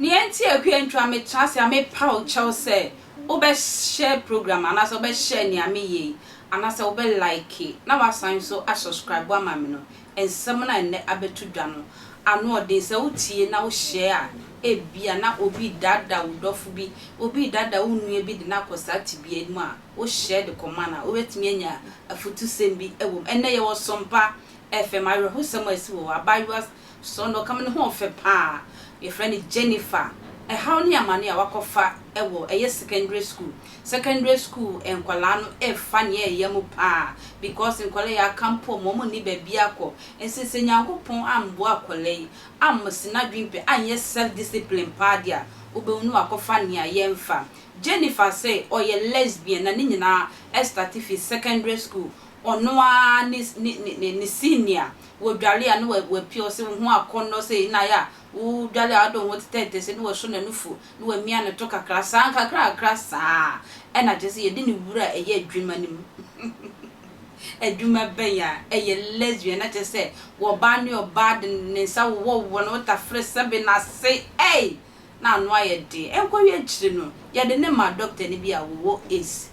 Nea enti a Akua Ntra metra ase a mepaw kyɛw sɛ wobɛhyɛ program anaasɛ wobɛhyɛ nea meyɛ yi anaasɛ wobɛ like na woasan nso asubscribe ama me no, nsɛm no a nnɛ abɛto dwa no ano yɛ den. Sɛ wotie na wohyɛ a, ebia na obi redaadaa wo dɔfo bi, obi redaadaa wo nua bi de no akɔ saa tebea yi mu a wohyɛ de kɔma no a, wobɛtumi anya afutusɛm bi wom. Ɛnnɛ, yɛwɔ sɔ mpa FM. Awerɛhosɛm a asi wɔ hɔ, abaayewa sɔ na ɔka ma ne ho ɔfɛ pa ara, yɛfrɛ no Jennifer. Ɛhaw ne amane a wakɔfa wɔ ɛyɛ sekɛndere sukuu. Secondary school nkwadaa no refa nea ɛyɛ mu paa because nkwadaa yi aka mpo wɔn nni baabi akɔ nti sɛ Nyankopɔn amboa akwadaa yi ammsi n'adwene pɛ anyɛ self discipline paa deɛ a wobɛhu no wakɔfa nea yɛmfa. Jennifer se ɔyɛ lesbian na ne nyinaa starte firi secondary school ɔno ara ne ne ne ne senior wɔdware a na wapia ɔse wo ho akɔnnɔ sei na ayɛ a wodware a wode wo ho tetɛtetɛ sei na waso n'anufu na wamia ne to kakra saa, nkakrakra saa a, na kyerɛ sɛ yɛde ne wura reyɛ adwuma no mu. Adwuma bɛn a? Ɛyɛ lesbian, na kyerɛ sɛ wɔbaa ne ɔbaa de ne nsa wowɔwowɔ ne wotafere sɛbe no ase. Ei! Na ano ayɛ den. Ɛnkɔwie akyiri no, yɛde no maa dɔktani bi a ɔwɔ Asia.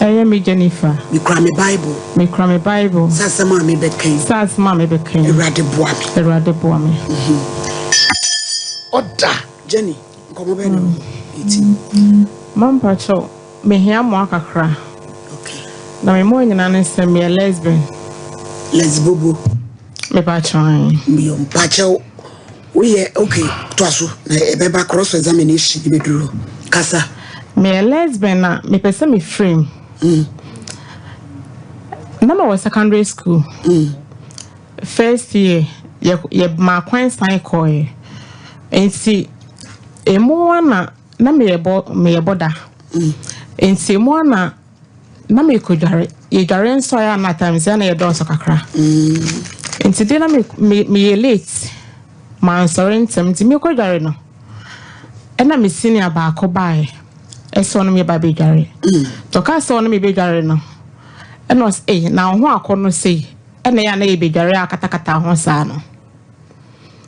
Ɛyɛ me Jennifer. Me kura me bible. Me kura me bible. Sɛ asɛm a me bɛ kɛn. Sɛ asɛm a me bɛ kɛn. Awurade boa me. Awurade boa me. Ɔda Jenny nkɔmɔ bɛ na eti. Mampa kyɛw me hia mmoa kakra. Okay. Na me mmoa nyinaa ne sɛ me yɛ lesbian. Lesbobo. Me pa kyɛw. Me yɛ mpa kyɛw. Woyɛ ok toa so na ɛbɛba cross examination no bɛduru hɔ kasa. Meyɛ lesbian na mepɛ sɛ me firi mu. Na mewɔ secondary school first year yɛ yɛ maa kwan san kɔɔɛ nti emu ana na meyɛ bɔ meyɛ bɔda nti emu ana. Na merekɔdware. Yɛdware nsɔre a na times a na yɛdɔɔso kakra. Nti deɛ na me me meyɛ late. Mansɔre ntɛm nti merekɔdware no ɛna me senior baako baeɛ ɛsɛ ɔno meba bɛdware. Nti ɔkaa sɛ ɔno mebɛdware no ɛna ɔsɛ ei na wo ho akɔ no sei ɛna ɛyɛ a na yɛbɛdware akatakata ho saa no.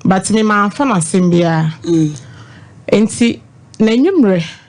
But me mamfa no asɛm biara. Nti n'anwummerɛ.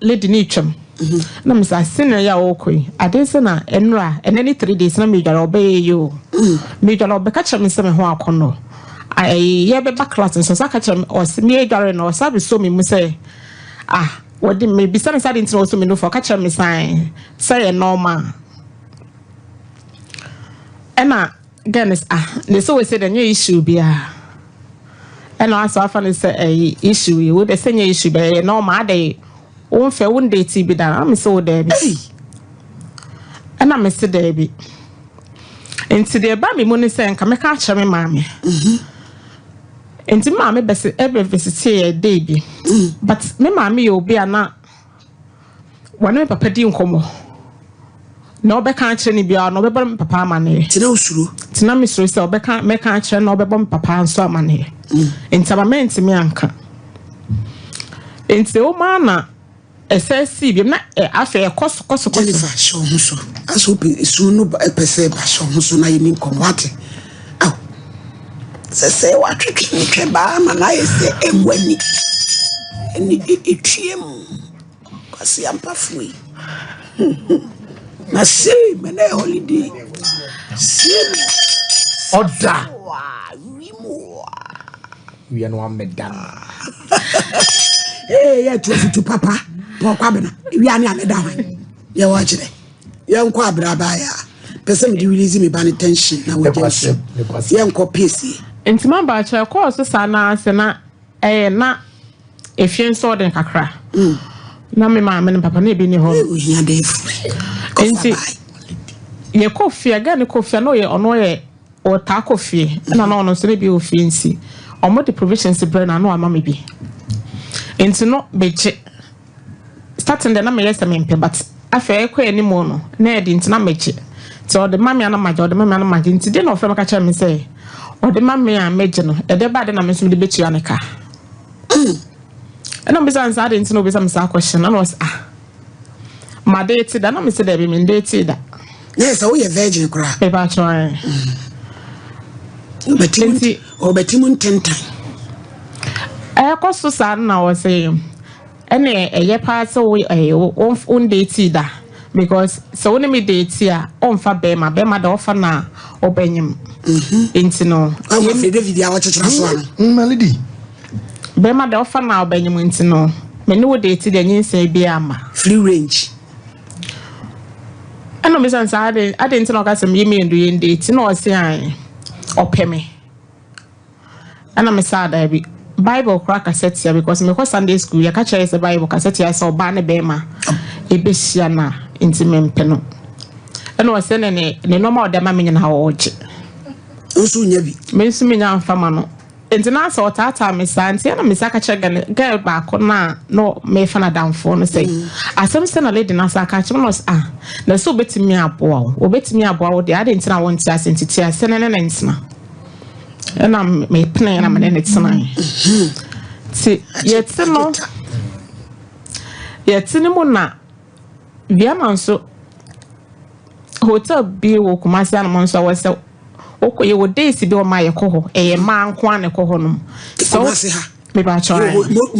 Lady ne twam na me sa senior ya o koi ade nsa na enra ene ne three days na me dware obe ye ye o me dware obe ka kyerɛ me nsa me ho akɔ no ayi ye be ba class nso sa ka kyerɛ me o se me dware no sa be so me mu sɛ ah wɔde me bisa ne sa de ntina o so me nufo ka kyerɛ me san sɛ yɛ normal ɛna Dennis, ah, ne sɛ wɔsɛ dɛ nyɛ issue biara ɛna asɛ afa ne sɛ ɛyɛ issue yi wo dɛ sɛ nyɛ issue bɛyɛ na ɔma adɛ wo mfɛ wo ndɛ ti bi da na me sɛ wo dɛ bi ɛna me se dɛ bi nti deɛ ɛba me mu ne sɛ nka mɛka akyerɛ me maame nti me maame bɛsi ɛbɛ visite yɛ dɛ bi but me maame yɛ obi a na Wɔne me papa di nkɔmmɔ. Nea wɔbɛka akyerɛ no biara no, ɔbɛbɔ me papa amanneɛ. Nti na wosuro? Nti na mesuro sɛ ɔbɛka mɛka akyerɛ no na ɔbɛbɔ me papa nso amanneɛ. Mm. Nti ama mantumi anka. Nti woma na ɛsɛ sii biam na afei ɛkɔ so kɔ so kɔ so. Jennifer, hyɛ wo ho so. Asɛ wopɛ sum no pɛ sɛ ba hyɛ wo ho so na yɛni nkɔmmɔ ate. Ao! Sɛsɛɛ wɔatwetwe no twɛbaa ma no ayɛ sɛ agua ni. Ɛnne de etua mu. Kwaseampafoɔ yi. Hum hum. Na sei ma na ɛyɛ holiday. Sei ma ɛyɛ ɔda. Wiem oa. Wie no ameda no. Ee yɛ tu afutu papa. Pɔkwa bena. Wie ne ameda hwan. Yɛ wɔ kyerɛ. yɛnkɔ abrabaaeɛ a pɛ sɛ mede release me ba no tension na wɔgya nsu yɛnkɔ piesie. Nti ma ba kyɛ ɛkɔɔ so saa na sɛ na ɛyɛ na efie nso ɔden kakra na me maame ne papa na ebi ni hɔ ohia dɛ fure nti yɛ kɔ fie aga ne kɔ fie na ɔyɛ ɔno ɔyɛ ɔtaa kɔ fie ɛna na ɔno nso ne bi wɔ fie nti ɔmo de provisions brɛ na ano ama me bi nti no begye Starting deɛ na meyɛ sɛ mempɛ but afei ɛkɔ anim no na ɛde nti na megye nti ɔde ma me a na magye ɔde ma me a na magye nti deɛ na ɔfrɛ me ka kyerɛ me sɛ ɔde ma me a megye no ɛde ba de na me nso mede bɛtua ne ka ɛna mbisa nsa ade nti na obisa me saa question na na ɔsɛ ah ma de ti da na me sɛ dɛbi me de ti da na ɛsɛ woyɛ virgin koraa ɛba atwɛn nti ɔbɛti mu ntentan ɛkɔ so saa na ɔsɛ Ɛna ɛyɛ paa sɛ wo ɛɛ wo wo ndate da because sɛ wo ne me date a ɔnfa bɛrima bɛrima da ɔfa na ɔbɛnyem mhm. nti no ɛwɔ afei david a ɔkyekyera so ano mm, malidi bɛrima da ɔfa na ɔbɛnyem nti no me ne wo date deɛ nyinsɛn bi ama free range ɛna ɔmo sɛ saa ade ade nti na ɔka sɛ meyɛ mmienu yɛ ndate na ɔse an ɔpɛ me Ɛna me saa daabi. Bible koraa kasa tia because mekɔ Sunday school yɛka kyerɛ yɛ sɛ Bible kasa tia sɛ ɔbaa ne bɛrima ɛbɛhyia no a nti mempɛ no. Ɛna ɔsɛ ne ne ne nneɛma a ɔde ama me nyinaa ɔregye. Nso nya bi. Me nso menya amfa ma no. Nti na sɛ ɔtaataa me saa nti ɛna me saa ka kyerɛ gɛl gɛl baako no a na mefa no adamfoɔ no sɛ mm. asɛm sɛ na lady no asa ka kyerɛ no sɛ ah na sɛ obɛtumi aboa wo obɛtumi aboa wo deɛ adɛn nti na wonte ase nti te ase ne ne ne ntena ɛna mepenee na mene ne tenae nti yɛte no yɛte no mu na biama nso hotel bi wɔ kumase anam nso wɔ sɛ wokɔ yɛ wɔ days bi wɔn a yɛkɔ hɔ ɛyɛ mmaa nko a na ɛkɔ hɔ nom so mebatwa ayɛ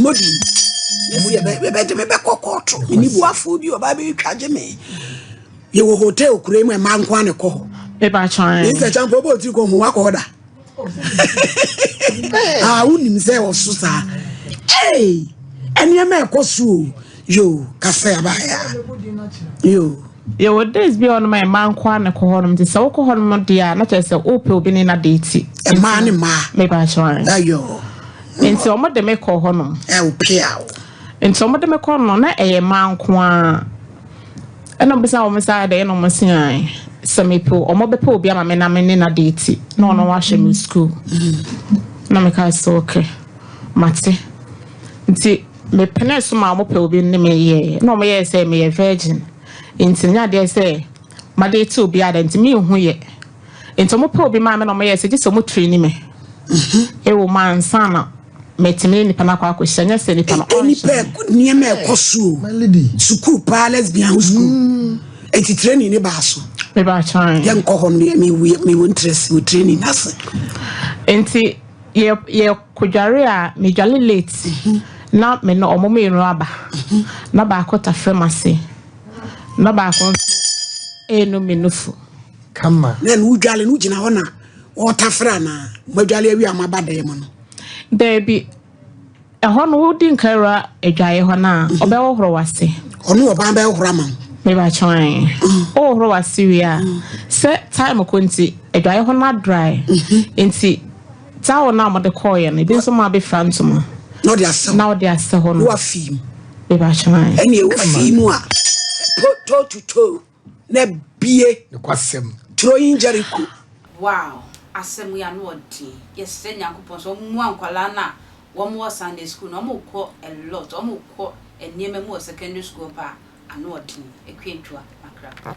modi mebɛgye mebɛkɔ kɔɔto menibuafoɔ bi ɔbaa bɛtwa gye me Yɛwɔ hotel kura mu a mmaa nko ara na ɛkɔ hɔ. Mr. Champo bɔ otiri kɔ ho wakɔ hɔ da. Ah, wonim sɛ ɔso saa. Hey, nneɛma ɛkɔ so o. Yo, kasa yaba ya. Yo. Yɛwɔ days bi a ɔnom a mmaa nko ara na ɛkɔ hɔnom nti sɛ wokɔ hɔnom deɛ a na kyerɛ sɛ wopɛ obi ne na deeti. Mmaa ne mmaa. Meba akyerɛ. Ayɔ. Nti wɔn de me kɔ hɔnom. Ɛ o pia o. Nti wɔn de me kɔ no na ɛyɛ mmaa nko ara. Ɛna ɔbisa wɔn sɛ adɛn na wɔn se ae sɛ mepe wɔn bɛpɛ obi ama me na me ne na deeti na ɔno wahyɛ me sukuu na meka sɛ okay mate nti mepene so ma wɔn pɛ obi ne me yɛɛ na wɔn yɛɛ sɛ meyɛ virgin nti nya adeɛ sɛ madeeti obi ada nti menhu yɛ nti wɔn pɛ obi maa me na wɔn yɛɛ sɛ gye sɛ wɔn tiri ni me ɛwɔ mu ansa na Metumi ne nipa no akɔ akɔhyia, nyɛ sɛ nipa no ɔnhyɛ da. Nnipa nneɛma ɛkɔ so o. Sukuu paa lesbian ho sukuu. Eti training ne baa so. Meba kyerɛ. Yɛ nkɔ hɔ no mi wi mi won tress wo training ase. Enti yɛ yɛ kodware a me dwale late mhm. na me no ɔmo me no aba. Mhm. Na baako ta frɛ mase. Na baako nso ɛnu me nufu. Kama. Na no dwale no gyina hɔ na. Wɔretafere anaa? Moadwale awie a moaba dan mu no? Daabi. Ɛhɔ no, wodi nka awura adwaeɛ hɔ no a, mhm. ɔbɛhohoro w'ase. Ɔno ɔbaa bɛhohoro ama wo. Mebakyɛn. Mm. Wohohoro w'ase wie a, mm. sɛ time ko nti, adwaeɛ hɔ no adrae. Mhm. Nti, towel no a wɔde kɔɔeɛ no, ebi nso ma abɛfira ntoma. Na ɔde asɛ hɔ. Na ɔde asɛ hɔ no. Woafii mu. Mebakyɛn. Ɛnna ɛwɔ fii mu a, toe to toe. na bue nokwasɛm turo yi Jericho. Wow asɛm yi ano ɔden yɛsrɛ nyankopɔn sɛ ɔmoa nkwadaa no a wɔn wɔ Sunday school no wɔn kɔ a lot wɔn kɔ nneɛma mu wɔ secondary school hɔ paa ano ɔden akua ntua makra.